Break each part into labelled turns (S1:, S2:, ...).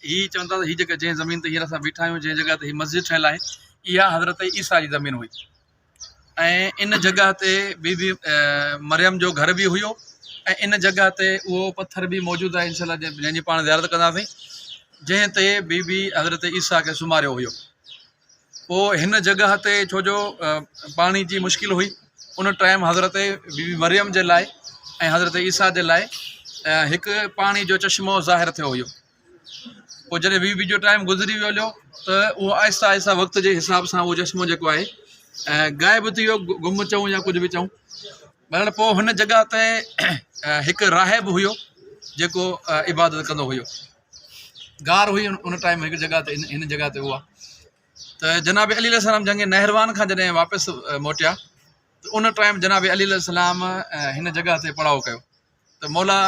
S1: هي چون ٿا ته هي جيڪا جنهن زمين تي هينئر اسان بيٺا آهيون جنهن جڳهه تي هي مسجد ٺهيل آهي اها حضرت عيسيٰ جي زمين هئي ۽ ان جڳهه تي بي بي مريم جو گهر به هيو ۽ ان جڳهه تي اهو پٿر به موجود آهي انشاء الله جنهن جي پاڻ زيارت ڪنداسين جنهن تي بي بي حضرت عيسيٰ کي سمهاريو هيو پوء هن جڳهه تي ڇو جو پاڻي جي مشڪل هئي ان ٽائيم حضرت بي بي مريم جي لاء ۽ حضرت عيسيٰ جي لاء هڪ پاڻي جو چشمو ظاهر ٿيو هيو پوء جڏهن بي بي جو ٽائيم گذري ويو هليو ته اهو آهستي آهستي وقت جي حساب سان اهو چشمو جيڪو آهي غائب ٿي ويو گم چئون يا ڪجهه به چئون بهرحال پوء هن جڳهه تي هڪ راهب هيو جيڪو عبادت ڪندو هيو غار هئي ان ٽائيم هڪ جڳهه تي هن جڳهه تي هئا ته جناب علي عليه السلام جنگ نهروان کان جڏهن واپس موٽيا ته ان ٽائيم جناب علي عليه السلام هن جڳهه تي پڙاؤ ڪيو ته مولا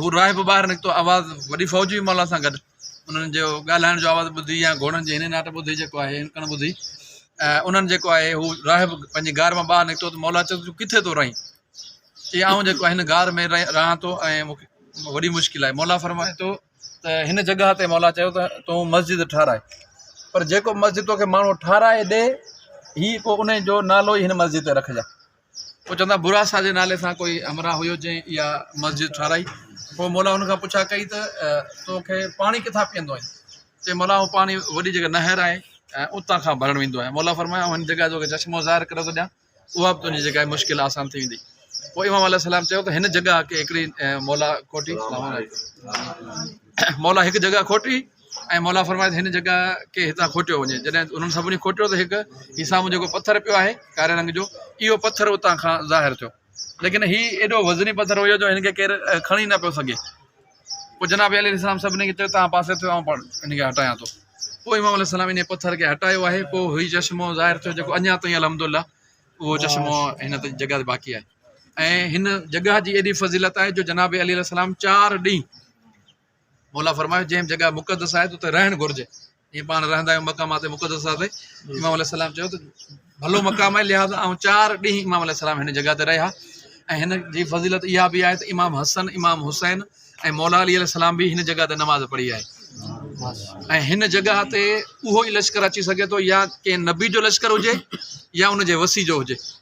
S1: هو راهي به ٻاهر نڪتو آواز وڏي فوج بي مولا سان گڏ انهن جو ڳالهائڻ جو آواز ٻڌي يا گهوڙن جي هن ناٽ ٻڌي جيڪو آهي هن ڪن ٻڌي انهن جيڪو آهي هو راهب پنهنجي گار مان ٻاهر نڪتو ته مولا چيو تون ڪٿي ٿو رهين چي آئون جيڪو هن غار ۾ رهان ٿو ۽ مون کي وڏي مشڪل آهي. مولا فرمائي ٿو ته هن جڳهه تي مولا چيو ته تون مسجد ٺهراء پر جيڪو مسجد توکي ماڻهو ٺهرائي ڏي هي پوء انهي جو نالو ئي هن مسجد تي رکجان. پوء چوندا براسا جي نالي سان ڪوئي همراهه هيو جنهن اها مسجد ٺهرائي. پوء مولا هن کان پڇا ڪئي ته توکي پاڻي ڪٿان پيئندو آهين؟ چي مولا آئون پاڻي وڏي جيڪا نهر آهي اتان کان ڀرڻ ويندو آهيان. مولا فرمايو آئون هن جڳهه جو چشمو ظاهر ڪري ٿو ڏيان. اها به تنهنجي جيڪا مشڪل آسان ٿي ويندي پوء امام عليه السلام چيو ته هن جڳهه کي هڪڙي مولا کوٽي مولا هڪ جڳهه کوٽي ۽ مولا فرمائي هن جڳهه کي هتان کوٽيو وڃي جڏهن انهن سڀني کوٽيو ته هڪ هي سامهون جيڪو پٿر پيو آهي ڪاري رنگ جو اهو پٿر اتان کان ظاهر ٿيو ليڪن هي ايڏو وزني پٿر هيو جو هن کي ڪير کڻي نه پيو سگهي پوء جناب عليه السلام سڀني کي چيو توهان پاسي ٿيو آئون پاڻ ان کي هٽايان ٿو پوء امام عليه السلام انهي پٿر کي هٽايو آهي پوء هي چشمو ظاهر ٿيو جيڪو اڃا تائين الحمدلله اهو چشمو هن تي جڳهه تي باقي آهي ۽ هن جڳهه جي ايڏي فضيلت آهي جو جناب علي السلام چار ڏينهن مولا فرمايو جنهن جڳهه مقدس آهي ته اتي رهڻ گهرجي ائين پاڻ رهندا آهيون مقامات مقدسه تي امام عليه السلام چيو ته ڀلو مقام آهي لهٰذا آئون چار ڏينهن امام عليه السلام هن جڳهه تي رهيا ۽ هن جي فضيلت اها به آهي ته امام حسن امام حسين ۽ مولا علي عليه السلام به هن جڳهه تي نماز پڙهي آهي ۽ هن جڳهه تي اهو ئي لشڪر اچي سگهي ٿو يا ڪنهن نبي جو لشڪر هجي يا ان جي وسيع جو هجي